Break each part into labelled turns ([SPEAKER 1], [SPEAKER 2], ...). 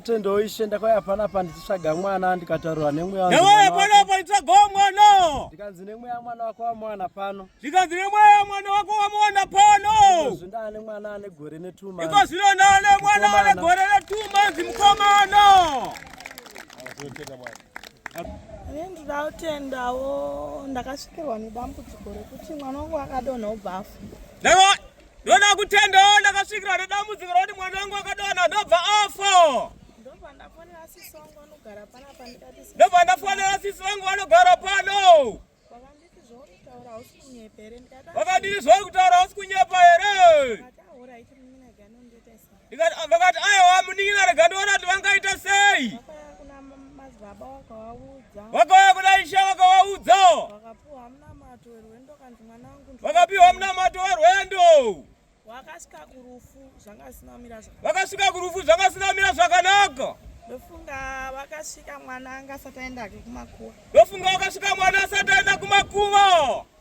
[SPEAKER 1] Tendo ishe ndakauya panapa ndichitsvaga mwana ndikataurwa nemweya wangu. Ndauya panapa ndichitsvaga
[SPEAKER 2] mwana. Ndikanzi nemweya mwana
[SPEAKER 1] wako wamwana pano. Ndikanzi nemweya
[SPEAKER 2] mwana wako wamwana pano. Ikozvi ndane mwana ane
[SPEAKER 1] gore netuma. Ikozvi ndane
[SPEAKER 2] mwana ane gore netuma zimukomana.
[SPEAKER 3] Ini ndinoda kutendawo ndakasvikirwa nedambudziko rekuti mwana wangu akadonha ubva afa.
[SPEAKER 2] Ndoda kutendawo ndakasvikirwa nedambudziko rokuti mwana wangu akadonha ndobva afa. Ndobva ndafonera
[SPEAKER 3] sisi wangu vanogara pano apa ndikati sisi. Ndobva ndafonera
[SPEAKER 2] sisi wangu vanogara pano.
[SPEAKER 3] Vakanditi zvauri kutaura
[SPEAKER 2] hausi kunyepa here ndikati. Vakanditi zvauri kutaura hausi
[SPEAKER 3] kunyepa here. vakati aiwa
[SPEAKER 2] munin'ina rega ndiona kuti vangaita sei
[SPEAKER 3] vakauya kuna ishe
[SPEAKER 2] vakawaudza
[SPEAKER 3] vakapiwa munamato
[SPEAKER 2] werwendo
[SPEAKER 3] vakasvika kurufu zvanga
[SPEAKER 2] zvisina kumira zvakanaka ndofunga
[SPEAKER 3] vakasvika mwana anga asati aenda kumakuva ndofunga vakasvika
[SPEAKER 2] mwana asati aenda kumakuva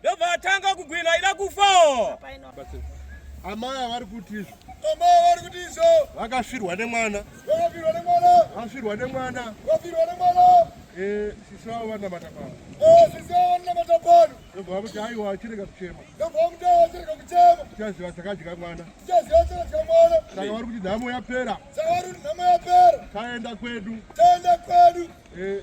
[SPEAKER 3] Ndobva atanga kugwina
[SPEAKER 2] ida kufa. Amai
[SPEAKER 4] vari kuti izvo. Amai vari kuti
[SPEAKER 2] izvo. Vakafirwa nemwana.
[SPEAKER 4] Vakafirwa nemwana.
[SPEAKER 2] Vakafirwa nemwana.
[SPEAKER 4] Vakafirwa nemwana.
[SPEAKER 2] Eh, sisi vavo
[SPEAKER 4] vanamata pano. Eh, sisi vavo
[SPEAKER 2] vanamata pano. Ndobva vamuti aiwa
[SPEAKER 4] achirega kuchema. Ndobva vamuti aiwa achirega
[SPEAKER 2] kuchema. Tichaziva chakadya
[SPEAKER 4] mwana. Tichaziva chakadya
[SPEAKER 2] mwana. Saka vari kuti nhamo
[SPEAKER 4] yapera. Saka vari kuti nhamo
[SPEAKER 2] yapera. Taenda kwedu.
[SPEAKER 4] Taenda kwedu.
[SPEAKER 2] Eh.